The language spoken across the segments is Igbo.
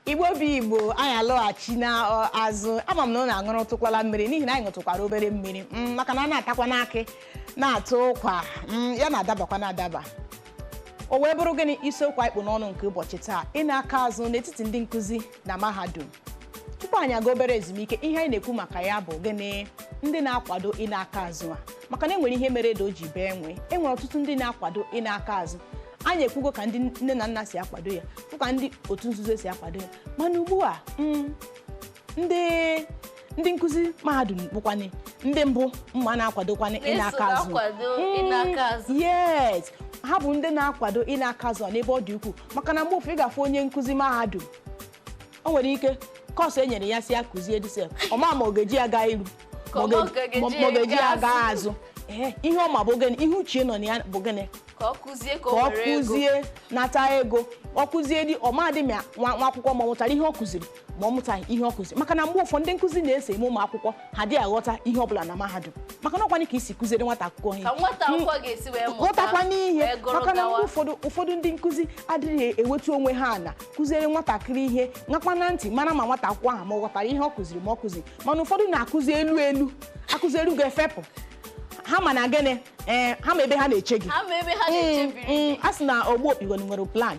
igbo bụ igbo anyị alọghachina azụ ama m na unu aṅụrụtụkwala mmiri n'ihi na anyị ṅụtụkwara obere mmiri mm, maka na a na-atakwanụ akị na-atụ ụkwa mm, ya na-adabakwa na-adaba o wee bụrụ gịnị isiokwu anyị kpụ n'ọnụ nke ụbọchị taa ịna aka azụ n'etiti ndị nkụzi na mahadum tupu anyị aga obere ezumike ihe anyị na-ekwu maka ya bụ gịnị ndị na-akwado ịna aka azụ a maka na enwere ihe mere ede o ji bee nwii enwere ọtụtụ ndị na-akwado ịna aka azụ anyị ekwugo ka ndị nne na nna si akwado ya fụ ka ndị otu nzuzo si akwado ya mana ugbu a mm, ndị ndị nkụzi mahadum bụkwanụ ndị mbụ mma na-akwadokwana ịna Na-eso aka azụ na-akwado ịna aka azụ. Mm, yes ha bụ ndị na-akwado ịna aka azụ n'ebe ọ dị ukwuu maka na mgbe ụfọdụ ị ga-afụ onye nkụzi mahadum o nwere ike kọọsụ e nyere ya sị ya kụzie disef ọ ma ma ọ ga-eji ya gaa iru Ka ọ ọ gaghị ma ọ eji ga-eji gaa aga azụ. azụ Ee, ihe ọ ma bụ gịnị ihe uche nọ na ya bụ gịnị ka ọ kụzie ka ka o ọ were ego kụzie nata ego ọ kụzie di ọ madị ma nwa nwa akwụkwọ ma ọ mụtara ihe ọ kụziri ma ọ mụtaghị ihe ọ kụziri maka na mgbe ụfọdụ ndị nkụzi na-eso eme ụmụ akwụkwọ ha adị aghọta ihe ọ bụla na mahadum maka na ọ kwanụ ka i si kụziere nwata akwụkwọ ihe ka nwata akwụkwọ ga-esi wee mụta ghọtakwanụ ihe wee gụrụ maka na gawa. mgbe ụfọdụ ụfọdụ ndị nkụzi adịghị ewetu onwe ha ala kụziere nwatakịrị ihe nakwa na ntị mara ma nwata akwụkwọ ahụ ma ọ ghọtara ihe ọ kụziri ma ọ kụziri mana ụfọdụ na-akụzi elu elu akụzi elu gafee pụọ ha ma na gịnị ee eh, ha ma ebe ha na-eche gị mm, mm, a sị na ogbu okpigoni nwere plan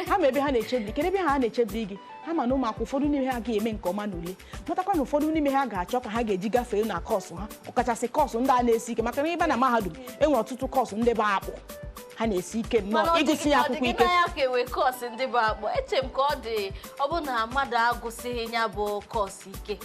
ha ma ebe ha na-echebiri kedu ebe ha na-echebiri gị ha ma na ụmụakwụkwọ ụfọdụ n'ime ha ga-eme nke ọma n'ule matakwa na ụfọdụ n'ime ha ga-achọ ka ha ga-eji gafee na kọọsụ ha ọkachasị kọọsụ ndị a na-esi ike maka na ịba na mahadum enwere ọtụtụ kọọsụ ndị bụ akpụ ha na-esi ike nnọọ ịgụsị ya akwụkwọ ike ya ka enwe kọọsụ ndị bụ akpụ eche m ka ọ dị ọ bụ na mmadụ agụsịghị ya bụ kọọsụ ike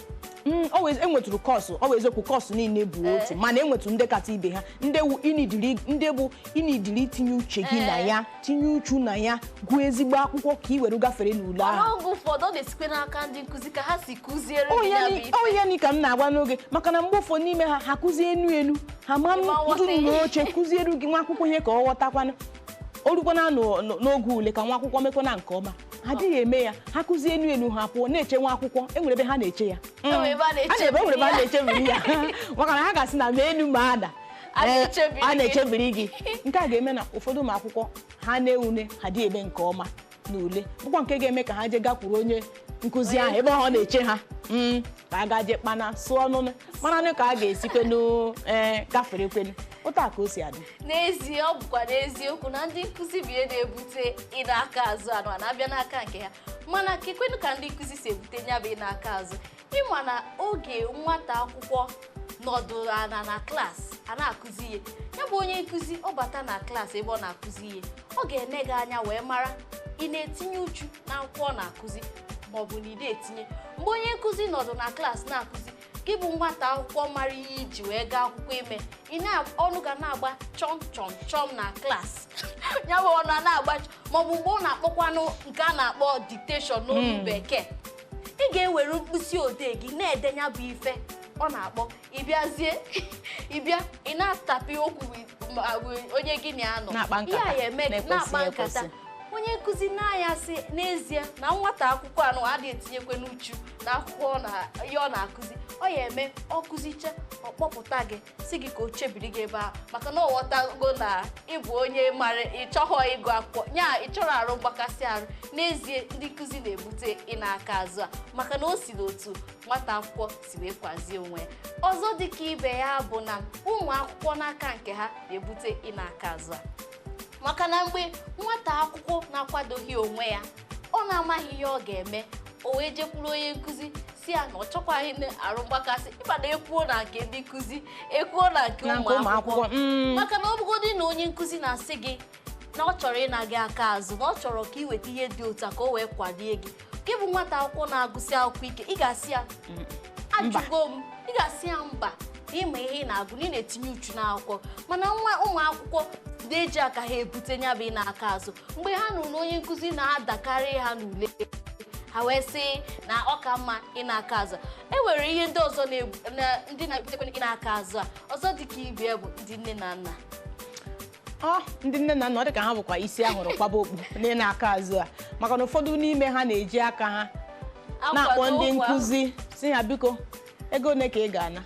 Mm, ọ wee- enwetụrụ kọọsụ ọ wụ eziokwu kọọsụ niile bụ Ee. otu mana enwetụrụ ndị kacha ibe ha ndị wu- inidiri- ndị bụ inidiri itinye uche gị na Ee. ya tinye uchu na ya gụọ ezigbo akwụkwọ ka ị were gafere n'ule ahụ mana oge ụfọdụ ọ na-esikwa n'aka ndị nkụzi ka ha si kụziere gị ya bụ ife. onye ni ka m na-agwa n'oge maka na mgbe ụfọdụ n'ime ha ha kụzie enu enu ha ama Ịma nghọta nọdụ ihe. n'oche kụziere gị nwa akwụkwọ ihe ka ọ ghọtakwanụ o rukwana n'o- n'o- n'oge ule ka nwa akwụkwọ mekwana nke ọma ha adịghị eme ya ha kụzie enu enu ha pụọ na-eche nwa akwụkwọ enwere ebe ha na-eche ya Enwere ebe a na-eche na-ebe enwere ebe a ya. na-echebiri ya maka na ha ga-asị na mee enu mee ana A Ee, na-echebiri a gị. na-echebiri gị nke a ga-eme na ụfọdụ ụmụ akwụkwọ ha na-ewune ha adị eme nke ọma n'ule bụkwa nke ga-eme ka ha jee gakwuru onye nkụzi ahụ ebe ọ na-eche ha Mm, ka a gaje kpana sụọ ọnụnụ maranụ ka a ga-esikwenu ee gaferekwenu otu a ka o si adị n'ezie ọ bụkwa n'eziokwu na ndị nkụzi bụ ihe na-ebute ịna aka azụ anụwa na-abịa n'aka nke ha mana kekwenu ka ndị nkụzi si ebute nya bụ ịna aka azụ ị ma na oge nwata akwụkwọ nọdụrụ ana na klaasị a na-akụzi ihe ya bụ onye nkụzi ọ bata na klaasị ebe ọ na-akụzi ihe ọ ga-ene gị anya wee mara ị na-etinye uchu na akwụkwọ ọ na-akụzi ma ọ bụ na ị dịghị etinye mgbe onye nkụzi nọdụ na klaasị na-akụzi gị bụ nwata akwụkwọ mara ihe i ji wee gaa akwụkwọ ime ị na ọnụ gị ana-agba chọm chọm chọm na klaasị ya bụ ọnụ a na-agba chọm maọbụ mgbe ọ na-akpọkwanụ nke a na-akpọ dictation n'olu bekee ị ga-ewere mkpịsị odee gị na-edenye bụ ife ọ na-akpọ ị bịazie ị bịa ị na-atapị okwu onye gị na ya nọ ihe a ya eme na-akpa nkata onye nkụzi nee anya sị n'ezie na nwata akwụkwọ anwa adịghị etinyekwanụ uchu na akwụkwọ ihe ọ na-akụzi ọ ya eme ọ kụzicha ọ kpọpụta gị sị gị ka o chebiri gị ebe a maka na ọ ghọtago na ị bụ onye mara ị chọghọ ịgụ akwụkwọ nya ị chọrọ arụ mgbakasị arụ n'ezie ndị nkụzi na-ebute ịna aka azụ a maka na o si n'otu nwata akwụkwọ si wee kwazie onwe ya ọzọ dịka ibe ya bụ na ụmụ akwụkwọ n'aka nke ha na-ebute ịna aka azụ a maka na mgbe nwata akwụkwọ na-akwadoghị onwe ya ọ na-amaghị ihe ọ ga-eme o wee jekwuru onye nkụzi sị ya na ọ chọkwaghị na arụ mgbakasị ị ma na e kwuo na nke ndị nkụzi e kwuo na nke Na nke ụmụ ụmụ akwụkwọ akwụkwọ, mm. maka na ọ bụgodị na onye nkụzi na-asị gị na ọ chọrọ ịna gị aka azụ na ọ chọrọ ka ị weta ihe dị otu a ka o wee kwadie gị gị bụ nwata akwụkwọ na-agụsị akwụkwọ ike ị ga-asị ya ajụgo m ị ga-asị ya mba na ị ma ihe ị na-agụ na ị na-etinye uchu n'akwụkwọ mana ụmụ akwụkwọ na-eji aka ha ebute nya bụ ịna aka azụ mgbe ha nụrụ na onye nkụzi na-adakarị ha n'ule ha wee sị na ọ ka mma ịna aka azụ e nwere ihe ndị ọzọ na-egbu- na- ndị na-ebutekwa ịna aka azụ a ọzọ dị ka ibe ya bụ ndị nne na nna ọ ndị nne na nna ọ dị ka ha bụkwa isi a hụrụ kwaba okpu n'ịna aka azụ a maka na ụfọdụ n'ime ha na-eji aka ha na-akpọ ndị nkụzi sị ha biko ego ole ka ị ga-ana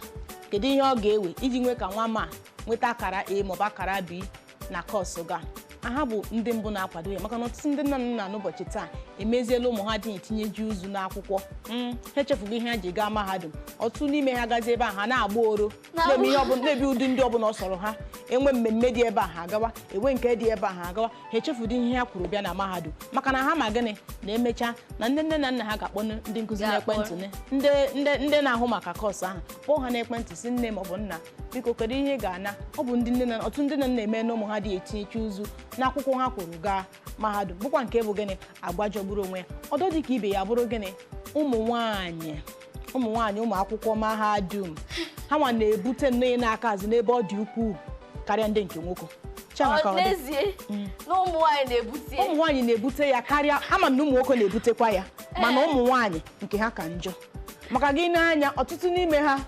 kedu ihe ọ ga-ewe iji nwee ka nwa m a nweta akara A maọbụ akara B na kọọsụ gị a ha bụ ndị mbụ na-akwado ya maka na ọtụtụ ndị nne na nna n'ụbọchị taa emeziela ụmụ ha adịghị etinyezi uchu n'akwụkwọ Mm, ha echefugo ihe ha ji gaa mahadum ọtụtụ n'ime ha gazie ebe a ha na-agba oro na-eme ihe ọbụla na-ebi ụdị ndụ ọbụla ọ sọrọ ha e nwee mmemme dị ebe a ha agawa e nwee nke dị ebe a ha agawa ha echefudị ihe ha kwuru bịa na mahadum maka na ha ma gịnị na e mechaa na ndị nne na nna ha ga-akpọ ndị nkụzi Ga-akpọ. n'ekwentị ne- ndị ndị- ndị na-ahụ maka kọọsụ ahụ kpọọ ha n'ekwentị sị nne maọbụ nna biko kedu ihe ị ga-ana ọ bụ ndị nne na ọtụtụ ndị nne na nna na-eme na ụmụ ha adị etinyecha uchu n'akwụkwọ ha kworo gaa mahadum bụkwa nke bụ gịnị agwa jọgburu onwe ya ọdọ dị ka ibe ya bụrụ gịnị ụmụ nwaanyị ụmụ nwaanyị ụmụ akwụkwọ mahadum ha nwa na-ebute nnọọ ịna aka azụ n'ebe ọ dị ukwuu karịa ndị nke nwoke Chiama ka ọ Ọ dị. n'ezie na ụmụ nwaanyị na-ebute ụmụ nwaanyị na-ebute ya karịa ama m na ụmụ nwoke na-ebutekwa ya mana ụmụ nwaanyị nke ha ka njọ maka gịnị na ọtụtụ n'ime ha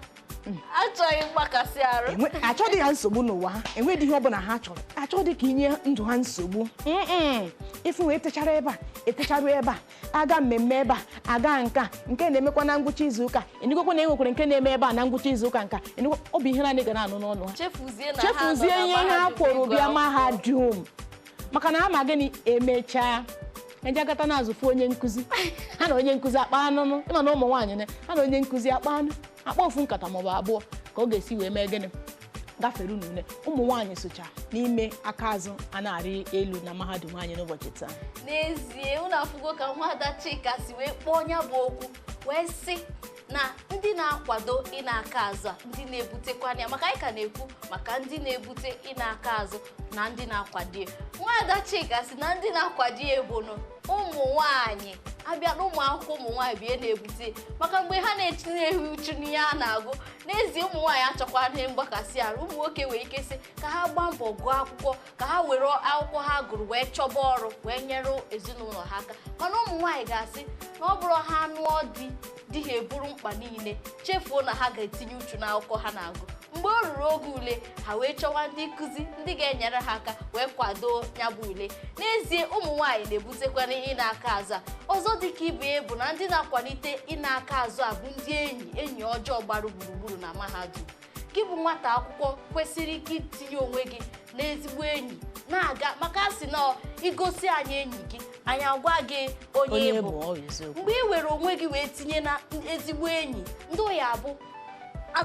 achọghị mgbakasị arụ Enwe- achọghị ha nsogbu n'ụwa ha enweghị ihe ọbụla ha chọrọ achọghị ka inye ndụ ha nsogbu Mm-mm. ịfụ wee techara ebe a etecharu ebe a aga mmemme ebe a aga nka nke na-emekwa na ngwụcha izu ụka ịnụgokwa na enwekwara nke na-eme ebe a na ngwụcha izu ụka nka ịnụgokwa ọ bụ ihe naanị ị ga na-anụ n'ọnụ ha chefuzie na ha nọ chefuzie na ihe ha mahadum kworo ịgụ bịa akwụkwọ. mahadum maka na ha ma gịnị emechaa eje gata n'azụ fụ onye nkụzi ha na onye nkụzi akpa anụnụ ịma na ụmụ nwaanyị na ha na onye nkụzi akpa anụ akpa ofu nkata maọbụ abụọ ka ọ ga-esi wee mee gịnị gafere n'ule ụmụ nwaanyị socha n'ime aka azụ a na-arị elu na mahadum anyị n'ụbọchị taa n'ezie unu afụgo ka Nwada Chika si wee kpọọ ya bụ okwu wee sị na ndị na-akwado ịna aka azụ a ndị na-ebutekwana ya maka anyị ka na-ekwu maka ndị na-ebute ịna aka azụ na ndị na-akwado ya nwaada Chika sị na ndị na-akwado ya bụ na ụmụ nwanyị abịa na ụmụ akwụkwọ ụmụ nwaanyị bụ ya na-ebute maka mgbe ha na-etinyeghị uchu n'ihe a na-agụ n'ezie ụmụ nwaanyị achọkwaghị mgbakasị arụ ụmụ nwoke nwere ike sị ka ha gbaa mbọ gụọ akwụkwọ ka ha were akwụkwọ ha gụrụ wee chọba ọrụ wee nyere ezinụlọ ha aka mana ụmụ nwaanyị ga-asị na ọ bụrụ ha nụọ di di ha eburu mkpa niile chefuo na ha ga-etinye uchu n'akwụkwọ ha na-agụ mgbe o ruru oge ule ha wee chọwa ndị nkụzi ndị ga-enyere ha aka wee kwado ya bụ ule n'ezie ụmụ nwaanyị na-ebutekwana ịna aka azụ a ọzọ dịka ibe ya bụ na ndị na-akwalite ịna aka azụ a bụ ndị enyi enyi ọjọọ gbara gburugburu na mahadum gị bụ nwata akwụkwọ kwesịrị ike itinye onwe gị n'ezigbo enyi ị na-aga maka a sị na igosi anyị enyi gị anyị agwa gị onye Onye ị bụ bụ, ọ bụ eziokwu. mgbe ị were onwe gị wee tinye na ezigbo enyi ndị ọ ya-abụ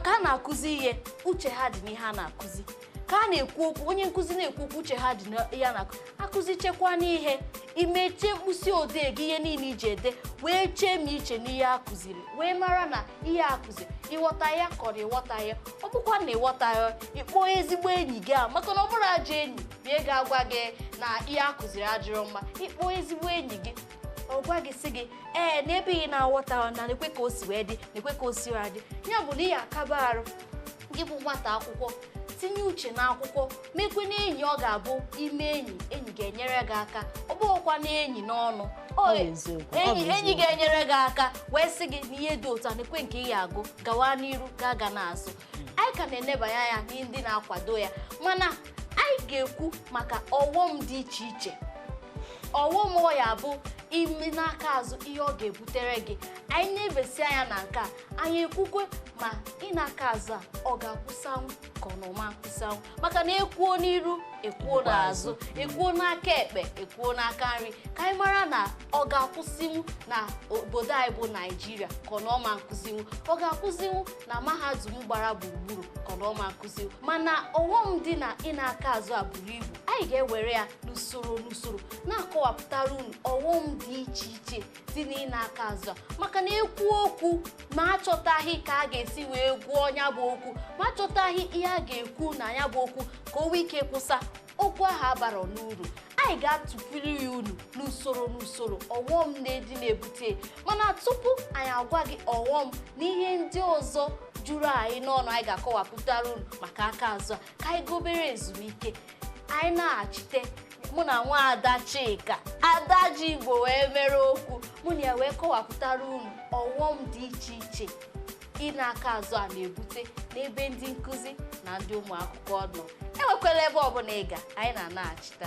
ka a na-akụzi ihe uche ha dị n'ihe a na-akụzi ka a na-ekwu okwu onye nkụzi na-ekwu okwu uche ha dị n'ihe a na-akụzi akụzichakwanụ ihe imechie mkpịsị odee gị ihe niile iji ede wee chee ma iche n'ihe a kụziri wee mara na ihe a kụziri ịghọta ya kọrọ ịghọta ya ọ bụkwa na ịghọta ya ịkpọ ezigbo enyi gị a maka na ọ bụrụ ajọ enyi bụ ya ga-agwa gị na ihe a kụziri adịrọ mma ịkpọ ezigbo enyi gị ọ gwa gị sị gị ee n'ebe ị na-aghọta na nekwa ka o si wee dị nekwa ka o si wee dị ya bụ na ihe akaba arụ gị bụ nwata akwụkwọ tinye uche n'akwụkwọ mekwe na enyi ọ ga-abụ ime enyi enyi ga-enyere gị aka ọ bụghịkwa na enyi n'ọnụ enyi ga-enyere gị aka wee sị gị na ihe dị otu a nekwe nke ị ga-agụ gawa n'iru agana azụ anyị ka na-enebanye anya n'ihe ndị na-akwado ya mana anyị ga-ekwu maka ọghọm dị iche iche ọghọm ọ ya bụ ime n'aka azụ ihe ọ ga-ebutere gị anyị nebesia anya na nke a anyị ekwukwe ma ịna aka azụ a ọ ga-akwụsanwu ka ọ na ọ ma-akwụsanwu maka na ekwuo n'iru ekwuo n'azụ ekwuo n'aka ekpe ekwuo n'aka nri ka anyị mara na ọ ga-akwụsịnwu na obodo anyị bụ naijiria ka ọ na ọ ma-akwụsịnwu ọ ga-akwụsịnwu na mahadum gbara gburugburu ka ọ na ọ ma-akwụsịnwu mana ọghọm dị n'ịna aka azụ a buru ibu anyị ga-ewere ya n'usoro n'usoro na-akọwapụtara unu ọghọm dị iche iche dị n'ịna aka azụ a maka na ekwu okwu ma achọtaghị ka a ga-esi wee gwọọ ya bụ okwu ma achọtaghị ihe a ga-ekwu na ya bụ okwu ka o nwee ike kwụsa okwu ahụ abara n'uru anyị ga-atụpụrụ ya unu n'usoro n'usoro ọghọm na-edi na-ebute mana tupu anyị agwa gị ọghọm na ihe ndị ọzọ juru anyị n'ọnụ anyị ga-akọwapụtara unu maka aka azụ ka anyị gaa obere ezumike anyị naghachite mụ na nwa ada chika ada ji igbo wee mere okwu mụ na ya wee kọwapụtara unu ọghọm dị iche iche ịna aka azụ a na-ebute n'ebe ndị nkụzi na ndị ụmụ akwụkwọ nọ enwekwala ebe ọbụla ị ga anyị na-anaghachita